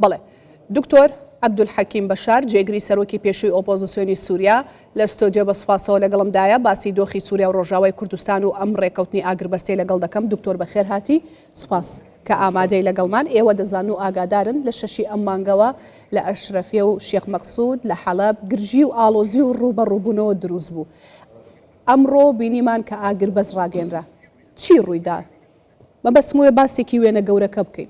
بەڵێ. دکتۆر، عەبدولحەکیم بەشار، جێگری سەرۆکی پێشووی ئۆپۆزسیۆنی سووریا، لە ستۆدیۆ بە سوپاسەوە لەگەڵمدایە، باسی دۆخی سووریا و ڕۆژاوای کوردستان و ئەم ڕێککەوتنی ئاگربەستەی لەگەڵ دەکەم. دکتۆر بەخێرهاتی. سوپاس کە ئامادەی لەگەڵمان. ئێوە دەزانن و ئاگادارن لە شەشی ئەم مانگەوە لە ئەشرەفیە و شێخ مەقسود لە حەڵەب گرژی و ئاڵۆزی و ڕووبەڕووبوونەوە دروست بوو. ئەمڕۆ بینیمان کە ئاگربەست ڕاگەیەنرا. چی ڕوویدا؟ مەبەستم وەیە باسێکی وێنە گەورەکە بکەین.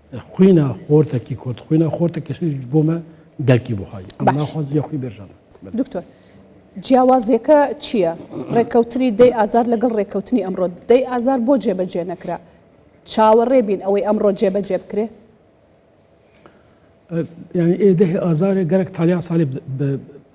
خوینا خۆرتە کی کورد خوینا خۆرتە کەشش بۆمە دەرکی بۆهایی ئەم ناخوازی یە خوی بێژەمە دکتۆر جیاوازیەکە چییە؟ ڕێککەوتنی دەی ئازار لەگەڵ ڕێککەوتنی ئەمڕۆ دەی ئازار بۆ جێبەجێ نەکرا چاوەڕێ بین ئەوەی ئەمڕۆ جێبەجێ بکرێ؟ یعنی ئێدەه ئازارێ گەرەک تالیا ساالێ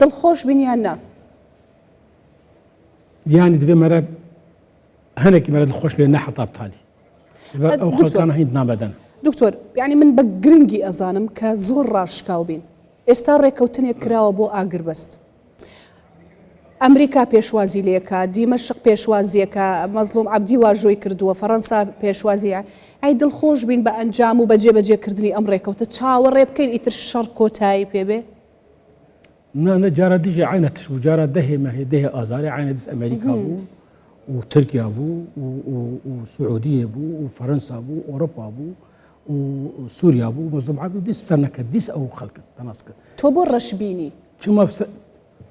دڵخۆش بن یان نا؟ یانی دەبێ مەرە هەنێکی مەرە دڵخۆش بێ نە حەتاب تالی ئەو خەڵکانە هیند نابدەن دکتۆر یعنی من بە گرنگی ئەزانم کە زۆر ڕاشکاو بین ئێستا ڕێکەوتنێک کراوە بۆ ئاگربەست ئەمریکا پێشوازی لێکا، دیمەشق پێشوازیەکا، مەزڵوم عەبدی واژۆی کردووە، فەرەنسا پێشوازی ئە. ئەی دڵخۆش بین بە ئەنجام و بە جێ بەجێ کردنی ئەم ڕێکەوتە چاوەڕێ بکەین ئیتر شەڕ کۆتایی پێ بێ؟ نا نا جارا دژی عینە تش بوو جارا دەهێ مەهێ دەهێ ئازارێ عینە دژ ئەمەریکا بوو و ترکیا بوو و سعودیە بوو و فەرەنسا بوو ئۆرۆپا بوو و سووریا بوو مەزوم عبد دیس سەر نەکرد دیس ئەو خەڵکە تەناس کرد تۆ بۆ ڕەشبینی چ مەبسە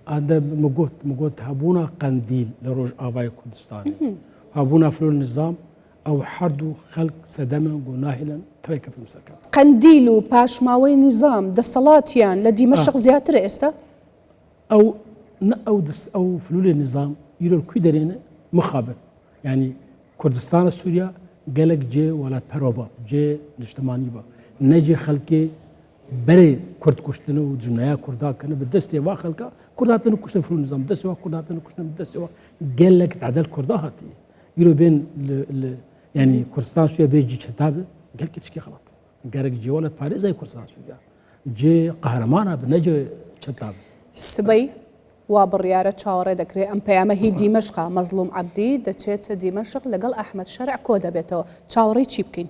ئادە مگوت مگوت هەبوونا قەندیل لە ڕۆژ ئاوای کوردستان هەبوونا فرۆل نظام ئەو هەردوو خەلک سەدەمە گۆناهلن ترێکەفم سەرکە قەندیل و پاشماوەی نظام دەسەڵاتیان لە دیمە شخ زیاتر ئێستا ئەو نە ئەو دەست ئەو فلولێ نظام ئیرۆل کوی دەرێنە مخابن ینی کوردستانە سووریا گەلک جێ وڵات پەرۆبە جێ نیشتمانی بە نەجێ خەلکێ برێ کورد کوشتن و جنایا کوردان کنە بە دەستێ وا خەلکە کورد هاتن و کوشتن فرو نظام دەستەوە کورد هاتن و کوشتن دەستەوە گەلێک تعدل کوردا هاتی ئیرۆ بێن ینی کوردستان سوێ بێ جی چەتابێ گەل کچکی خڵات گەرەک جیوانە پارێزای کوردستان سووریا جێ قەهرەمانە بنەجێ چەتاب سبەی وا بڕیارە چاوەڕێ دەکرێت ئەم پەیامە هی دیمەشقا مەزلوم عبدی دەچێت دیمەشق لەگەڵ ئەحمد شەرع کۆ دەبێتەوە چاوەڕی چی بکەین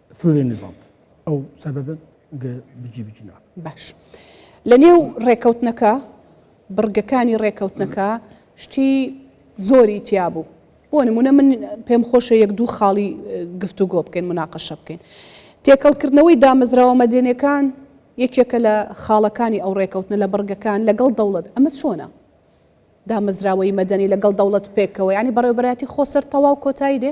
فلورێ نزانت ئەو سەبەبن گە بجی بجنا باش لە نێو ڕێکەوتنەکە بڕگەکانی ڕێکەوتنەکە شتی زۆری تیا بوو بۆ نمونە من پێم خۆشە یەک دوو خاڵی گفت و گۆ بکەین مناقەشە بکەین تێکەڵکردنەوەی دامەزراوە مەدێنەکان یەکێکە لە خاڵەکانی ئەو ڕێکەوتنە لە بڕگەکان لەگەڵ دەوڵەت ئەمە چۆنە دامەزراوەی مەدەنی لەگەڵ دەوڵەت پێکەوە ینی بەڕێوبەتی خۆسەر تەواو کۆتایی دێ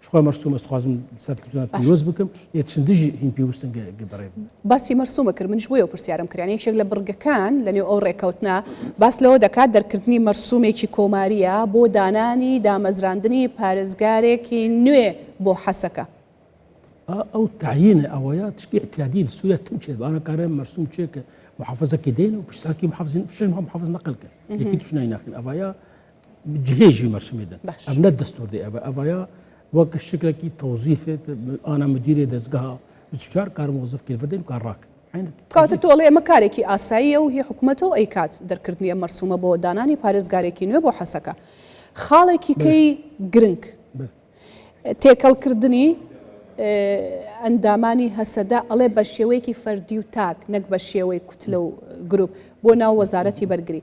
چخوا مەرسومە سخوازم سەر تلفزیۆنات باش. پیرۆز بکەم یە چن دژی هین پێوستن گە گە بەڕێ باسی مەرسومە کرد منیش بۆ یەوە پرسیارم کرد یانی یەکێک لە بڕگەکان لەنێو ئەو ڕێکەوتنە باس لەوە دەکات دەرکردنی مەرسومێکی کۆماریە بۆ دانانی دامەزراندنی پارێزگارێکی نوێ بۆ حەسەکە. ئا ئەو تەعینە ئەوەیە تشکی ئیتیادی لە سووریا تم چێت بارە کارە مەرسوم چێ کە محافزە کێ دێن و پشساکی محافزین پشش محافز نەقل کە یەکی توش نایناخین ئەڤایا جهێژی مەرسومی دن باش. ئەم نە دەستور دێ ئەبە ئەڤایا وەک شکلەکی تەوزیفێت ئانا مدیرێ دەستگەها بچار کار مۆزف کردن کار ڕاک کاتە تۆڵێ ئەمە کارێکی ئاساییە و هی حکومەتەوە ئەیکات دەرکردنی ئەم مەرسومە بۆ دانانی پارێزگارێکی نوێ بۆ حەسەکە خاڵێکی کەی گرنگ تێکەڵکردنی ئەندامانی هەسەدە ئەڵێ بە شێوەیەکی فەردی و تاک نەک بە شێوەی کوتلە و گروپ بۆ ناو وەزارەتی بەرگری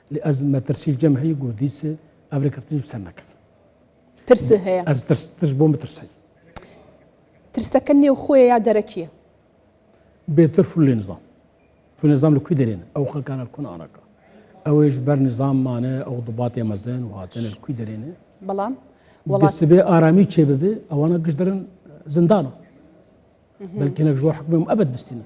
از مەترسی جەم هەی گۆ دیس ئەڤرێ کەفتنی بسەر نەکەفت. ترس هەیە. ئەز ترس ترس بۆ مترسەی. ترسەکە نێو خۆیە یا دەرەکیە؟ بێتر فول لێ نزام فول نظام لە کوی دەرێن ئەو خەکانە کون ئارەکە ئەوێش بەر نظاممانە ئەو دوباتێ مەزن و هاتنە کوی دەرێنێ بەڵام وڵاتبێ ئارامی چێ ببێ ئەوانە گشت دەرن زندانە بەلکەێک ژۆ حکمم ئەبد بستینە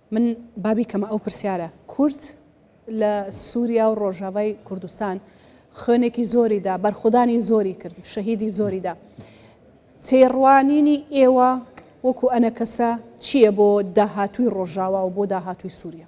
من با بیکەمە ئەو پرسیارە، کورد لە سوریا و ڕۆژاڤای کوردستان خوێنێکی زۆری دا، بەرخۆدانی زۆری کرد، شەهیدی زۆری دا. تێڕوانینی ئێوە وەکو ئەنەکەسە چییە بۆ داهاتووی ڕۆژاوا و بۆ داهاتووی سوریا؟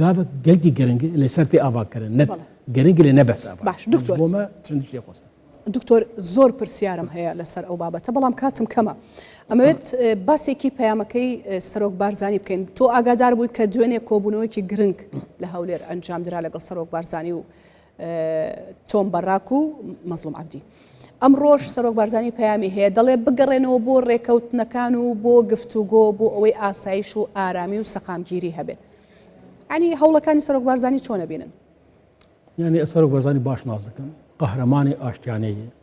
گاڤک گەلکی گرنگ لە سەر پێ ئاواکردن نەت گرنگ لە نەبەس باش دکتۆر بۆمە چەندش لێ خۆستە دکتۆر زۆر پرسیارم هەیە لەسەر ئەو بابەتە بەڵام کاتم کەمە ئەمەوێت باسێکی پەیامەکەی سەرۆک بارزانانی بکەین تۆ ئاگادار بووی کە دوێنێ کۆبوونەوەیکی گرنگ لە هەولێر ئەنجام درا لەگەڵ سەرۆک بارزانانی و تۆم بەڕاک و مەزڵوم عەبدی. ئەمڕۆش سەرۆک بارزانی پەیامی هەیە، دەڵێ بگەڕێنەوە بۆ رێکەوتنەکان و بۆ گفتوگۆ بۆ ئەوەی ئاسایش و ئارامی و سەقامگیری هەبێت. یانی هەوڵەکانی سەرۆک بارزانی چۆن ئەبینن؟ یانی سەرۆک بارزانی باش ناز دەکەم، قەهرەمانی ئاشتیانەیە.